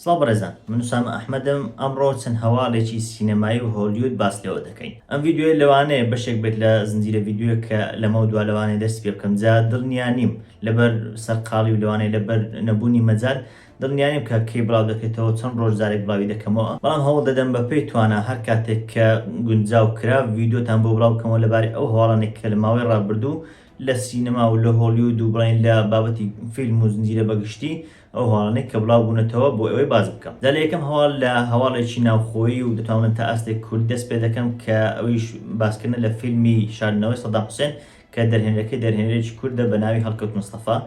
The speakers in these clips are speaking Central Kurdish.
سڵاو بەڕێزان من سامە ئەحمەدم ئەمڕۆ چەند هەواڵێکی سینەمایی و هۆلیود باس لەوە دەکەین ئەم ڤیددیوی لەوانەیە بەشێک بێت لە زنجیرە ڤیددیوە کە لەمە دوا لەوانەیە دەست پێ بکەم جا دڵنیا نیم لەبەر سەرقاڵی و لەوانەیە لەبەر نەبوونی مەجال دڵنیانیم کە کەی بڵاو دەکەیتەوە چەند ڕۆژ جارێک بڵاوی دەکەمەوە بەڵام هەوڵ دەدەم بەپێی توانا هەر کاتێک کە گونجاو کرا ڤیدیۆتان بۆ بڵاو بکەمەوە لەبارەی ئەو هەواڵانەی کە لە ماوەی ڕابردوو لە سینەما و لە هۆڵیود و بڵێین لە بابەتی فیلم و زنجیرە بەگشتی ئەو هەواڵانەی کە بڵاو بوونەتەوە بۆ ئەوەی باس بکەم جا لە یەکەم هەواڵ لە هەواڵێکی ناوخۆیی و دەتوان بڵێن تا ئاستێک کوردی دەست پێ دەکەم کە ئەویش باسکردنە لە فیلمی شاردنەوەی سەدام حوسێن کە دەرهێنەرەکەی دەرهێنەرێکی کوردە بە ناوی هەڵکەوت مستەفا،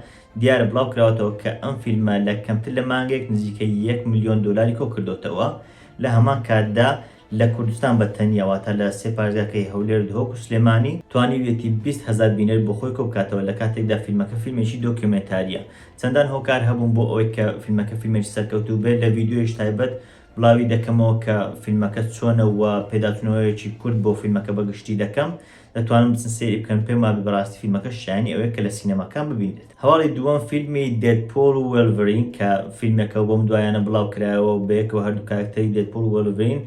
دیارە بڵاو کراوەتەوە کە ئەم فیلمە لە کەمتر لە مانگێک نزیکەی یەک ملیۆن دۆلاری کۆ کردۆتەوە، لە هەمان کاتدا لە کوردستان بە تەنیا واتە لە سێ پارێزگاکەی هەولێر، دهۆک و سلێمانی، توانیویەتی بیست هەزار بینەر بۆ خۆی کۆ بکاتەوە لە کاتێکدا فیلمەکە فیلمێکی دۆکیۆمێنتارییە، چەندان هۆکار هەبوون بۆ ئەوەی کە فیلمەکە فیلمێکی سەرکەوتوو بێت، لە ڤیدیۆیەکی تایبەت بڵاوی دەکەمەوە کە فیلمەکە چۆنە و پێداچوونەوەیەکی کورت بۆ فیلمەکە بە گشتی دەکەم، دەتوانن بچن سەیری بکەن پێم وابێ بەڕاستی فیلمەکە شایەنی ئەوەیە کە لە سینەماکان ببینرێت هەواڵی دووەم فیلمی دێدپۆڵ و وێلڤرین کە فیلمێکە و بەم دوایانە بڵاو کرایەوە و بەیەکەوە هەردوو کارەکتەری دێدپۆڵ و وێلڤرین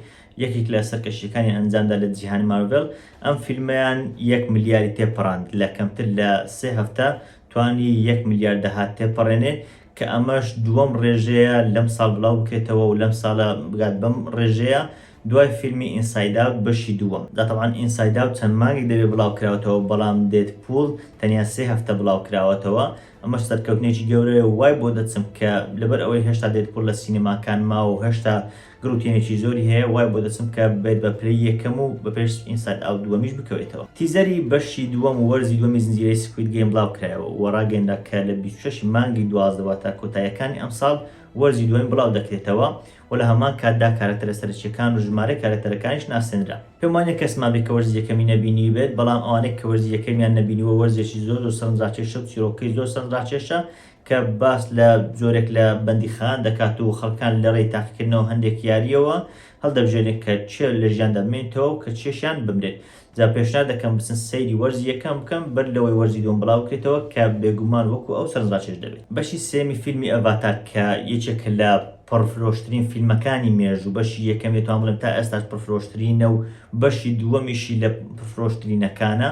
یەکێک لە سەرکەشییەکانیان ئەنجامدا لە جیهانی مارڤێڵ ئەم فیلمەیان یەک ملیاری تێپەڕاند لە کەمتر لە سێ هەفتە توانی یەک ملیار داهات تێپەڕێنێ کە ئەمەش دووەم ڕێژەیە لەم ساڵ بلاو بکرێتەوە و لەم ساڵە بگات بەم ڕێژەیە دوای فیلمی ئینساید ئاوت بەشی دووەم جا تەبعەن ئینساید ئاوت چەند مانگێک دەبێت بلاو کراوتەوە بەڵام دێد پوول تەنیا سێ هەفتە بلاو کراوەتەوە ئەمەش سەرکەوتنێکی گەورەیە و وای بۆ دەچم کە لەبەر ئەوەی هێشتا دێد پوول لە سینەماکان ماوە و هێشتا گروتێنێکی زۆری هەیە وای بۆ دەچم کە بێت بە پلەی یەکەم و بە پێش ئینساید ئاوت دووەمیش بکەوێتەوە. تیزەری بەشی دووەم و وەرزی دووەمی زنجیرەی سکوید گەیم بڵاوکرایەوە و ڕاگەیەنرا کە لە بیست و شەش ی مانگی دوازدە واتە کۆتاییەکانی ئەمساڵ وەرزی دووەمی بڵاودەکرێتەوە و لە هەمان کاتدا کارەکتەرە سەرەکییەکان و ژمارەی کارەکتەرەکانیش ناسێنرا. پێم وانییە کەسمان بێت کە وەرزی یەکەمی نەبینیبێت، بەڵام ئەوانەی کە وەرزی یەکەمیان نەبینیوە وەرزێکی زۆر زۆر سەرنجڕاکێشە و چیڕۆکەی زۆر سەرنجڕاکێشە کە باس لە جۆرێک لە بەندیخان دەکات و خەڵکان لەڕێی تاقیکردنەوە هەندێک یارییەوە هەڵدەبژێرێن کە چێ لە ژیاندا بمێنیتەوە و کە چێشیان بمرێت. جا پێشنیار دەکەم بچن سەیری وەرزی یەکەم بکەن بەر لەوەی وەرزی دووەم بڵاوبکرێتەوە کە بێگومان وەکو ئەو سەرنجڕاکێش دەبێت. بەشی سێیەمی فیلمی ئەڤاتار کە یەکێکە لە پڕفرۆشترین فیلمەکانی مێژوو، بەشی یەکەمی دەتوانم بڵێم تا ئێستاش پڕفرۆشترینە و بەشی دووەمیشی لە پڕفرۆشترینەکانە،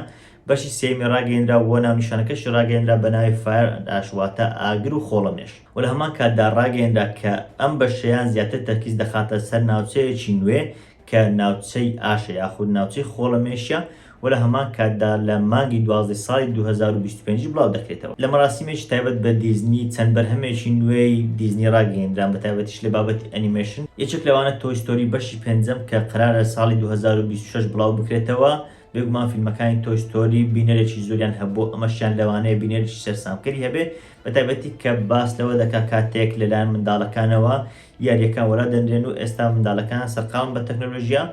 بەشی سێیەمی ڕاگەیەنرا و ناونیشانەکەشی ڕاگەیەنرا بە ناوی Fire and Ash واتە ئاگر و خۆڵەمێش و لە هەمان کاتدا ڕاگەیەنرا کە ئەم بەشەیە زیاتر تەرکیز دەخاتە سەر ناوچەیەکی نوێ کە ناوچەی ئاشە یاخود ناوچەی خۆڵەمێشە و لە هەمان کاتدا لە مانگی دوازدەی ساڵی دوو هەزار و بیست و پێنج بڵاو دەکرێتەوە. لە مەراسیمێکی تایبەت بە دیزنی چەند بەرهەمێکی نوێی دیزنی ڕاگەیەنران بە تایبەتیش لە بابەتی ئەنیمەیشن یەکێک لەوانە تۆی ستۆری بەشی پێنجەم کە قەرارە ساڵی دوو هەزار و بیست و شەش بڵاو بکرێتەوە بێگومان فیلمەکانی تۆی ستۆری بینەرێکی زۆریان هەبوو ئەمەشیان لەوانەیە بینەرێکی سەرسامکەری هەبێ بە تایبەتی کە باس لەوە دەکا کاتێک لەلایەن منداڵەکانەوە یاریەکان وەلا دەنرێن و ئێستا منداڵەکان سەرقاڵن بە تەکنەلۆژیا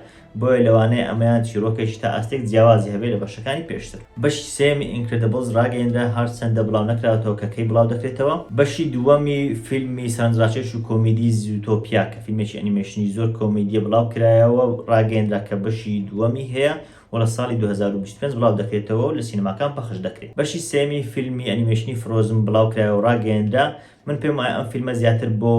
بۆیە لەوانەیە ئەمەیان چیرۆکێکی تا ئاستێک جیاوازی هەبێ لە بەشەکانی پێشتر بەشی سێمی ئینکرێدبڵز ڕاگەیەندرا هەرچەندە بڵاو نەکراوەتەوە کە کەی بڵاو دەکرێتەوە بەشی دووەمی فیلمی سەرنجڕاکێش و کۆمیدی زووتۆپیا کە. فیلمێکی ئەنیمەیشنی زۆر کۆمیدییە بڵاوکرایەوە و ڕاگەیەندرا کە بەشی دووەمی هەیە و لە ساڵی دوو هەزار و بیست و پێنج بڵاودەکرێتەوە و لە سینەماکان پەخش دەکرێت. بەشی سێیەمی فیلمی ئەنیمەیشنی فرۆزن بڵاوکرایەوە و ڕاگەیەندرا، من پێم وایە ئەم فیلمە زیاتر بۆ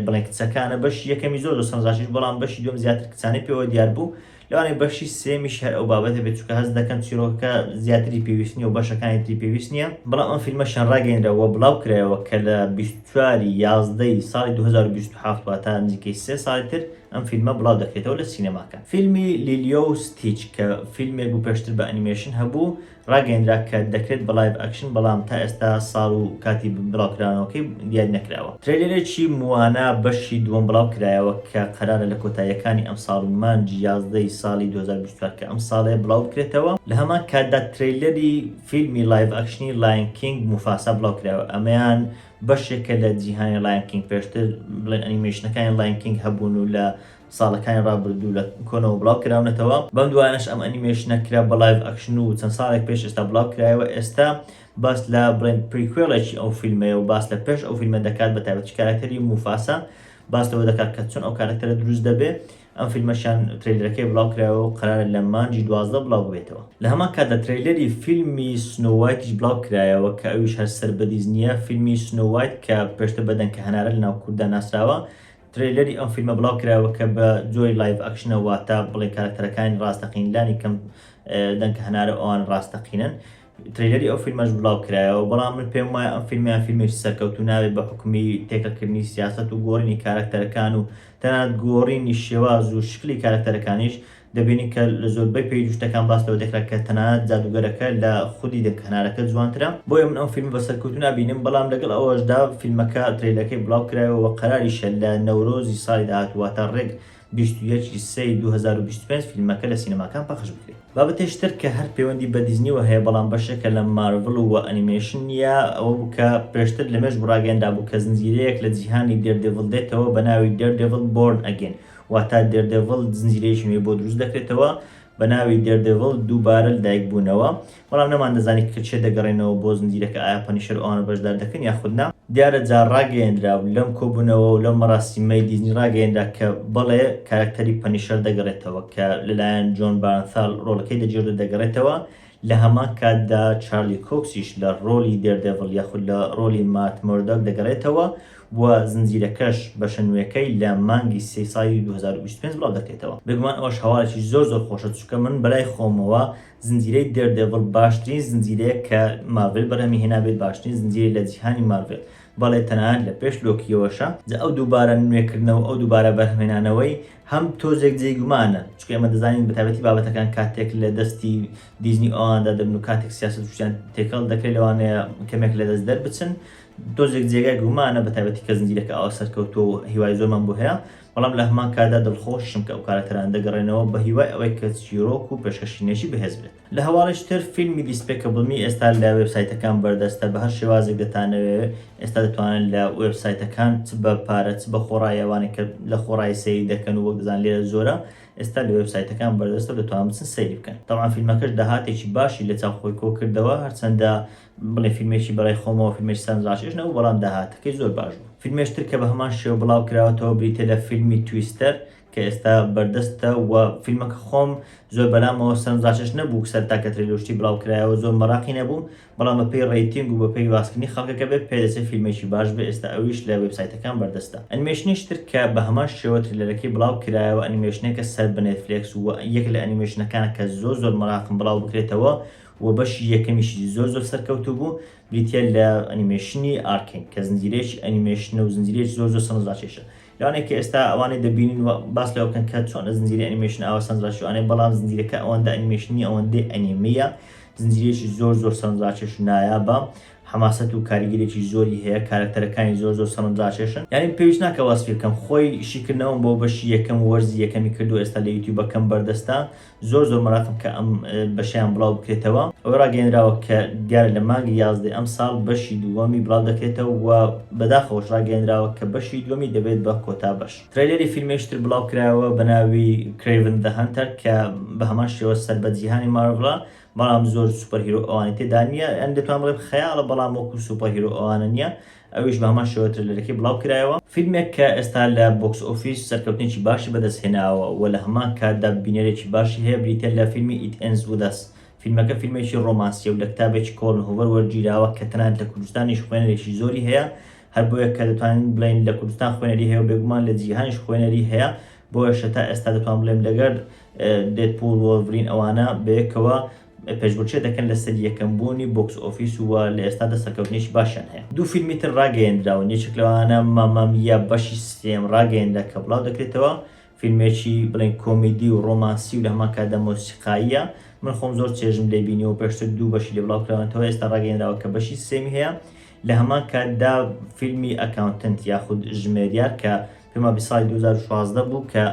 بڵێن کچەکانە، بەشی یەکەمی زۆر زۆر سەرنجڕاکێش بوو، بەڵام بەشی دووەم زیاتر کچانەی پێوە دیار بوو، لەوانەیە بەشی سێمیش هەر ئەو بابەتە بێت چونکە هەست دەکەم چیرۆکەکە زیاتری پێویست نییە و بەشەکانی تری پێویست نییە بەڵام ئەم فیلمە شان ڕاگەیەنرا و بڵاو کرایەوە کە لە بیست و چوار ی یازدە ی ساڵی دوو هەزار و بیست و حەفت واتە نزیکەی سێ ساڵی تر ئەم فیلمە بڵاو دەکرێتەوە لە سینەماکان فیلمی لیلیۆ و ستیچ کە فیلمێک بوو پێشتر بە ئەنیمەیشن هەبوو ڕاگەیەندرا کە دەکرێت بە لایڤ ئەکشن بەڵام تا ئێستا ساڵ و کاتی بڵاوکراونەوەکەی دیاری نەکراوە. ترەیلەرێکی موانا بەشی دووەم بڵاو کرایەوە کە قەرارە لە کۆتاییەکانی ئەمساڵ مانگی یازدە ی ساڵی دوو هەزار و بیست و چوار کە ئەمساڵەیە بڵاو بکرێتەوە، لە هەمان کاتدا ترەیلەری فیلمی لایڤ ئەکشنی لایەن کینگ موفاسا بڵاو کرایەوە ئەمەیان بەشێکە لە جیهانی لایەن کینگ پێشتر بڵێن ئەنیمەیشنەکانی لایەن کینگ هەبوون و لە ساڵەکانی ڕابردوو لە کۆنەوە بڵاو کراونەتەوە بەم دوایانەش ئەم ئەنیمەیشنە کرا بە لایڤ ئەکشن و چەند ساڵێک پێش ئێستا بڵاو کرایەوە ئێستا باس لە بڵێن پریکوێڵێکی ئەو فیلمەیە و باس لە پێش ئەو فیلمە دەکات بە تایبەتی کاراکتەری موفاسا باس لەوە دەکات کە چۆن ئەو کاراکتەرە دروست دەبێ ئەم فیلمەشیان ترەیلەرەکەی بڵاو کرایەوە و قەرارە لە مانگی دوازدە بڵاو ببێتەوە لە هەمان کاتدا ترەیلەری فیلمی سنۆ وایتیش بڵاو کرایەوە کە ئەویش هەر سەر بە دیزنییە فیلمی سنۆ وایت کە پێشتر بە دەنکە هەنارە لەناو کورددا ناسراوە ترەیلەری ئەم فیلمە بڵاو کراوە کە بە جۆری لایڤ ئەکشنە واتە بڵێ کارەکتەرەکانی ڕاستەقین لانی کەم دەنکە هەنارە ئەوان ڕاستەقینن تریلەری ئەو فیلمەش بڵاو کرایەوە بەڵام من پێم وایە ئەم فیلمیان فیلمی سەرکەوت و ناوێت بە حکومی تێکەکردنی سیاست و گۆڕینی کارکتەرەکان و تەنات گۆڕینی شێواز و شکلی کارکتەرەکانیش دەبینین کە لە زۆربەی پەیج و شتەکان باس لەوە دەکرا کە تەنانەت جادووگەرەکە لە خودی دەنگ هەنارەکە جوانترە بۆیە من ئەم فیلمە بە سەرکەوتوو نابینم بەڵام لەگەڵ ئەوەشدا فیلمەکە ترەیلەکەی بڵاو کرایەوە وە قەراریشە لە نەورۆزی ساڵی داهاتوو واتە ڕێک بیست و یەک ی سێ ی دوو هەزار و بیست و پێنج فیلمەکە لە سینەماکان پەخش بکرێت. بابەتێکی تر کە هەر پەیوەندی بە دیزنیوە هەیە بەڵام بەشێکە لە مارڤڵ و وە ئەنیمەیشن نییە ئەوە بوو کە پێشتر لە مێژوو ڕاگەیەنرابوو کە زنجیرەیەک لە جیهانی دێردێڤڵ دێتەوە بە ناوی Daredevil، Born Again واتە دێردێڤڵ زنجیرەیەکی نوێی بۆ دروست دەکرێتەوە بە ناوی دێردێڤڵ دووبارە لەدایک بوونەوە بەڵام نەمان دەزانی کە چێ دەگەڕێنەوە بۆ زنجیرەکە ئایا پەنیشەر ئەوانە بەشدار دەکەن یاخود نا، دیارە جا ڕاگەیەندرا و لەم کۆبوونەوە و لەم مەراسیمەی دیزنی ڕاگەیەنرا کە بەڵێ کارەکتەری پەنیشەر دەگەڕێتەوە کە لەلایەن جۆن بارنثال ڕۆڵەکەی دەگێڕدرێت دەگەڕێتەوە لە هەمان کاتدا چارلی کۆکسیش لە ڕۆڵی دێردێڤڵ یاخود لە ڕۆڵی مات مۆردۆک دەگەڕێتەوە و زنجیرەکەش بەشە نوێکەی لە مانگی سێی ساڵی دوو هەزار و بیست و پێنج بڵاو دەکرێتەوە بێگومان ئەوەش هەواڵێکی زۆر زۆر خۆشە چونکە من بەلای خۆمەوە زنجیرەی دێردێڤڵ باشترین زنجیرەیە کە مارڤێل بەرهەمی هێنابێت باشترین زنجیرەی لە جیهانی مارڤێل بەڵێ تەنانەت لە پێش لۆکییەوەشە جا ئەو دووبارە نوێکردنەوە ئەو دووبارە بەرهەمهێنانەوەی هەم تۆزێک جێی گومانە چونکە ئێمە دەزانین بە تایبەتی بابەتەکان کاتێک لە دەستی دیزنی ئەواندا دەبن و کاتێک سیاسەت شتیان تێکەڵ دەکرێت لەوانەیە کەمێک لە دەست دەربچن تۆزێک جێگای گومانە بە تایبەتی کە زنجیرەکە ئاوا سەرکەوتووە و هیوای زۆرمان بۆ هەیە، بەڵام لە هەمان کاتدا دڵخۆشیشم کە ئەو کارەکتەرانە دەگەڕێنەوە بە هیوای ئەوەی کە چیرۆک و پێشکەشکرنێکی بەهێز بێت. لە هەواڵیش تر فیلمی Despicable-Me ئێستا لە وێب سایتەکان بەردەستە بە هەر شێوازێک دەتانەوێ ئێستا دەتوانن لە وێب سایتەکان چ بە پارە چ بە خۆڕایی ئەوانەی کە لە خۆڕایی سەیری دەکەن و وەک دەزانن لێرە زۆرە ئێستا لە وێب سایتەکان بەردەستە و دەتوانن بچن سەیری بکەن تەبعەن فیلمەکەش داهاتێکی باشی لە چاو خۆی کۆ کردەوە هەرچەندە بڵێ فیلمێکی بەڕای خۆمەوە فیلمێکی سەرنجڕاکێش نەبوو بەڵام داهاتەکەی زۆر باش بوو فیلمێش تر کە بە هەمان شێوە بڵاو کراوەتەوە بریتیە لە فیلمی تویستەر کە ئێستا بەردەستە و فیلمەکە خۆم زۆر بەلامەوە سەرنجڕاکێش نەبوو سەرتا کە ترێلەر و شتی بڵاو کرایەوە زۆر مەراقی نەبووم بەڵام بەپێی ڕەیتینگ و بەپێی باسکردنی خەڵکەکە بێت پێ دەچێت فیلمێکی باش بێت ئێستا ئەویش لە وێبسایتەکان بەردەستە ئەنیمەیشنێکی تر کە بە هەمان شێوە ترێلەرەکەی بڵاو کرایەوە ئەنیمەیشنێکە سەر بە نێتفلێکس و یەکێک لە ئەنیمەیشنەکانە کە زۆر زۆر مەراقم بڵاو بکرێتەوە وە بەشی یەکەمیشی زۆر زۆر سەرکەوتوو بوو بریتیە لە ئەنیمێشنی ئارکین کە زنجیرەیەکی ئەنیمێشنە و زنجیرەیەکی زۆر زۆر سەرنجڕاکێشە لەوانەیە کە ئێستا ئەوانەی دەبینن و باس لەوە بکەن کە چۆنە زنجیرەی ئەنیمێشن ئاوا سەرنجڕاکێشوانەیە بەڵام زنجیرەکە ئەوەندە ئەنیمێشن نیە ئەوەندەی ئەنیمیە زنجیرەیەکی زۆر زۆر سەرنجڕاکێش و نایابە حەماسەت و کاریگەرێکی زۆری هەیە کارەکتەرەکانی زۆر زۆر سەرنجڕاکێشن یانی پێویست ناکە وەسفی بکەم خۆی شیکردنەوەم بۆ بەشی یەکەم و وەرزی یەکەمی کردووە ئێستا لە یوتیوبەکەم بەردەستە زۆر زۆر مەراقم کە ئەم بەشەیان بڵاو بکرێتەوە ئەوە ڕاگەێنراوە کە دیارە لە مانگی یازدەی ئەم ساڵ بەشی دووەمی بڵاو دەکرێتەوە و بەداخەوەش ڕاگەێنراوە کە بەشی دووەمی دەبێت بە کۆتا بەش ترەیلەری فیلمێکی تر بڵاو کرایەوە بە ناوی Kraven the Hunter کە بە هەمان شێوە سەر بە جیهانی مارڤڵە بەڵام زۆر سوپەرهیرۆ ئەوانی تێدا نییە یان دەتوان بڵێم خەیاڵە بەڵام وەکو سوپەرهیرۆ ئەوانە نییە ئەویش بە هەمان شێوە ترێلەرەکەی بڵاوکرایەوە. فیلمێک کە ئێستا لە بۆکس ئۆفیس سەرکەوتنێکی باشی بەدەستهێناوە و لە هەمان کاتدا بینەرێکی باشی هەیە بریتیە لە فیلمی It Ends With Us. فیلمەکە فیلمێکی ڕۆمانسیە و لە کتابێکی کۆڵن هۆڤەر وەرگیراوە کە تەنانەت لە کوردستانیش خوێنەرێکی زۆری هەیە هەر بۆیە کە دەتوانین بڵێین لە کوردستان خوێنەری هەیە و بێگومان لە جیهانیش خوێنەری هەیە بۆیەشە تا ئێستا دەتوانم بڵێم لەگەر Deadpool Wolverine ئەوانە بەیەکەوە پێشبڕکێ دەکەن لەسەر یەکەم بوونی بۆکس ئۆفیس و لە ئێستادا سەرکەوتنێکی باشیان هەیە. دوو فیلمی تر ڕاگەیەندراون، یەکێک لەوانە ماما میا بەشی سێم ڕاگەیەنرا کە بڵاودەکرێتەوە، فیلمێکی بڵێن کۆمیدی و ڕۆمانسی و لە هەمان کاتدا مۆسیقاییە، من خۆم زۆر چێژم لێی بینیوە و پێشتر دوو بەشی لێ بڵاوکراونەتەوە، ئێستا ڕاگەیەنراوە کە بەشی سێمی هەیە، لە هەمان کاتدا فیلمی ئەکاونتنت یاخود ژمێریار کە پێمان بی ساڵی دوو هەزار و شازدە بوو کە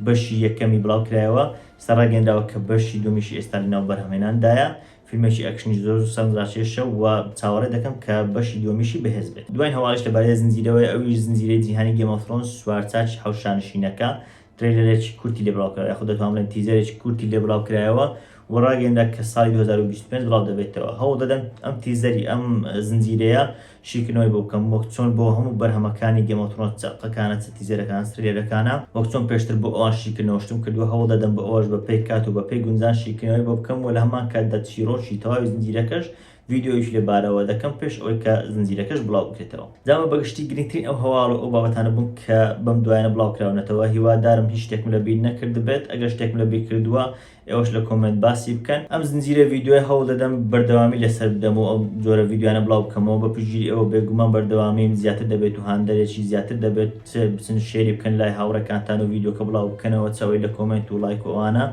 بەشی یەکەمی بڵاو کرایەوە ئێستا ڕاگەیەنراوە کە بەشی دوومیشی ئێستا لە ناو بەرهەمێناندایە فیلمێکی ئەکشنی زۆر و سەرنجڕاکێشە و چاوەڕێ دەکەم کە بەشی دووەمیشی بەهێز بێت دوایین هەواڵیش لەبارەی زنجیرەوەیە ئەویش زنجیرەی جیهانی گێم ئۆف ثرۆنس چوار چاکی حەوت شانشینەکە ترەیلەرێکی کورتی لێ بڵاو کرا، یاخود دەتوانم بڵێم تیزەرێکی کورتی لێ بڵاو کرایەوە و ڕاگەیەنرا کە ساڵی دوو هەزار و بیست و پێنج بڵاو دەبێتەوە، هەوڵ دەدەم ئەم تیزەری ئەم زنجیرەیە شیکردنەوەی بۆ بکەم وەک چۆن بۆ هەموو بەرهەمەکانی گەیم ئۆف ترۆنس چ ئەڵقەکانە چ تیزەرەکان چ ترەیلەرەکانە وەک چۆن پێشتر بۆ ئەوان شیکردنەوە شتم کردووە هەوڵ دەدەم بۆ ئەوەش بە پێی کات و بە پێی گونجان شیکردنەوەی بۆ بکەم و لە هەمان کاتدا چیڕۆکی تەواوی زنجیرەکەش ڤیدیۆیش لە بارەوە دەکەم پێش ئەوەی کە زنجیرەکەش بڵاو بکرێتەوە جاوە بەگشتی گرنگترین ئەو هەواڵ و ئەو بابەتانە بوون کە بەم دوایانە بڵاو کراونەتەوە هیوادارم هیچ شتێکم لە بیر نەکردبێت ئەگەر شتێکم لە بیر کردووە ئێوەش لە کۆمێنت باسی بکەن ئەم زنجیرە ڤیدیۆیە هەوڵ دەدەم بەردەوامی لەسەر بدەم و ئەو جۆرە ڤیدیۆیانە بڵاو بکەمەوە بە پشتگیری ئێوە بێگومان بەردەوامیم زیاتر دەبێت و هاندەرێکی زیاتر دەبێت چ بچن شێری بکەن لای هاوڕێکانتان و ڤیدیۆکە بڵاو بکەنەوە چ ئەوەی لە کۆمێنت و ڵایک و ئەوانە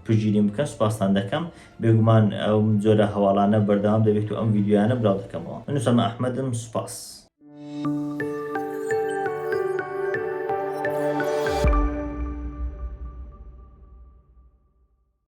پشتگیریم بکەن سوپاستان دەکەم بێگومان ئەم جۆرە هەواڵانە بەردەوام دەبێت و ئەم ڤیدیۆیانە بلاو دەکەمەوە من ئوسامە ئەحمەدم سوپاس.